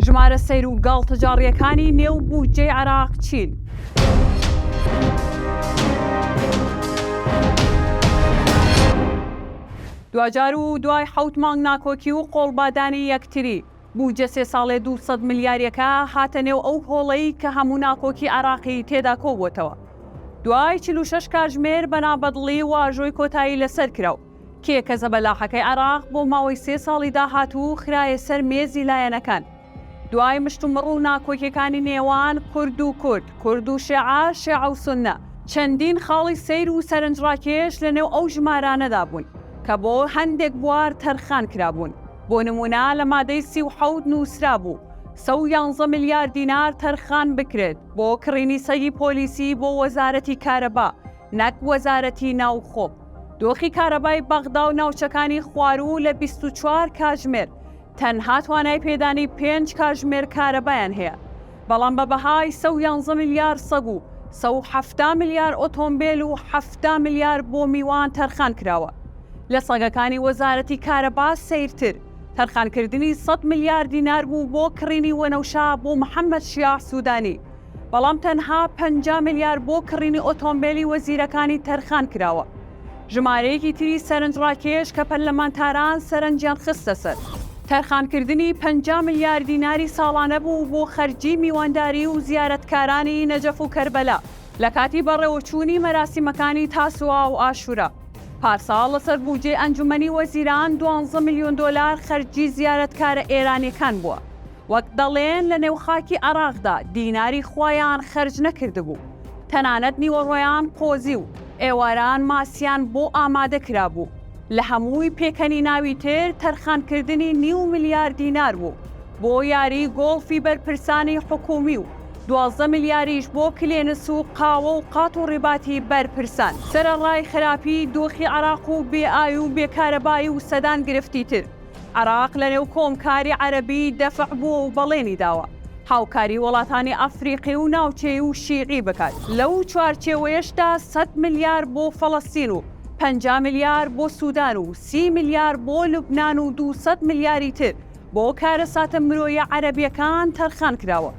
ژمارە سەیر و گاڵتەجاڕییەکانی نێو بودجەی عێراق چین؟ دواجار و دوای حەوت مانگ ناکۆکی و قۆڵبادانی یەکتری، بودجە سێ ساڵەی دوو سەد ملیارییەکە هاتە نێو ئەو هۆڵەی کە هەموو ناکۆکی عێراقی تێدا کۆبووەتەوە. دوای چل و شەش کاتژمێر بە نابەدڵی واژۆی کۆتایی لەسەر کرا و کێ کە زەبەلاحەکەی عێراق بۆ ماوەی سێ ساڵی داهاتوو خرایە سەر مێزی لایەنەکان، دوای مشتومڕ و ناکۆکیەکانی نێوان کورد و کورد، کورد و شێعە، شێعە و سوننە، چەندین خاڵی سەیر و سەرنجڕاکێش لە نێو ئەو ژمارانەدا بوون کە بۆ هەندێک بوار تەرخان کرابوون، بۆ نموونە لە مادەی سی و حەوت نووسرابوو سە و یانزە ملیار دینار تەرخان بکرێت بۆ کڕینی سەگی پۆلیسی بۆ وەزارەتی کارەبا نەک وەزارەتی ناوخۆ. دۆخی کارەبای بەغدا و ناوچەکانی خواروو لە بیست و چوار کاژمێر تەنها توانای پێدانی پێنج کاژمێر کارەبایان هەیە، بەڵام بە بەهای سە و یانزە ملیار سەگ و سە و حەفتا ملیار ئۆتۆمبێل و حەفتا ملیار بۆ میوان تەرخان کراوە. لە سەگەکانی وەزارەتی کارەبا سەیرتر، تەرخانکردنی سەد ملیار دینار بوو بۆ کڕینی وەنەوشە بۆ محەممەد شیاع سوودانی، بەڵام تەنها پەنجا ملیار بۆ کڕینی ئۆتۆمبێلی وەزیرەکانی تەرخان کراوە، ژمارەیەکی تری سەرنجڕاکێش کە پەرلەمانتاران سەرنجیان خستە سەر، تەرخانکردنی پەنجا ملیار دیناری ساڵانە بوو بۆ خەرجی میوانداری و زیارەتکارانی نەجەف و کەربەلا لە کاتی بەڕێوەچوونی مەراسیمەکانی تاسوعا و عاشورا پارساڵ لەسەر بووجەی ئەنجومەنی وەزیران دوانزە ملیۆن دۆلار خەرجی زیارەتکارە ئێرانیەکان بووە. وەک دەڵێن لە نێو خاکی عێراقدا دیناری خوایان خەرج نەکردبوو، تەنانەت نیوەڕۆیان قۆزی و ئێواران ماسیان بۆ ئامادە کرابوو، لە هەمووی پێکەنیناوی تر تەرخانکردنی نیو ملیار دینار بوو بۆ یاری گۆڵفی بەرپرسانی حکوومی و دوازدە ملیاریش بۆ کلێنس و قاوە و قات و ڕیباتی بەرپرسان. سەرەڕای خراپیی دۆخی عێراق و بێ ئاوی و بێ کارەبایی و سەدان گرفتی تر، عێراق لەنێو کۆمکاری عەرەبی دەفع بووە و بەڵێنی داوە هاوکاری وەڵاتانی ئەفریقی و ناوچەیی و شیعی بکات، لەو چوارچێوەیەشدا سەد ملیار بۆ فەڵەستین و پەنجا ملیار بۆ سودان و سی ملیار بۆ لوبنان و دوو سەد ملیاری تر بۆ کارەساتە مرۆیە عەرەبیەکان تەرخان کراوە.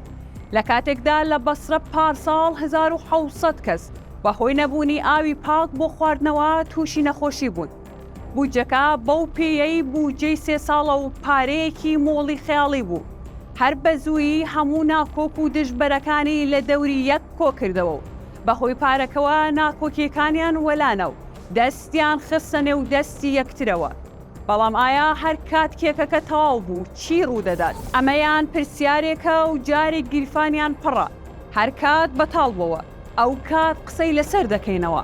لەکاتێکدا لە بەسرە پارساڵ هەزار و حەوت سەد کەس بەهۆی نەبوونی ئاوی پاک بۆ خواردنەوە تووشی نەخۆشی بوون، بودجەکە بەو پێیەی بودجەی سێ ساڵە و پارەیەکی مۆڵی خەیاڵی بوو، هەر بە زوویی هەموو ناکۆک و دژبەرەکانی لە دەوری یەک کۆ کردەوە و بە هۆی پارەکەوە ناکۆکییەکانیان وەلانا و دەستیان خستە نێو دەستی یەکترەوە. بەڵام ئایا هەر کات کێکەکە تەواو بوو چی ڕوو دەدات؟ ئەمەیان پرسیارێکە و جارێک گیرفانیان پڕە. هەر کات بەتاڵ بۆوە ئەو کات قسەی لەسەر دەکەینەوە.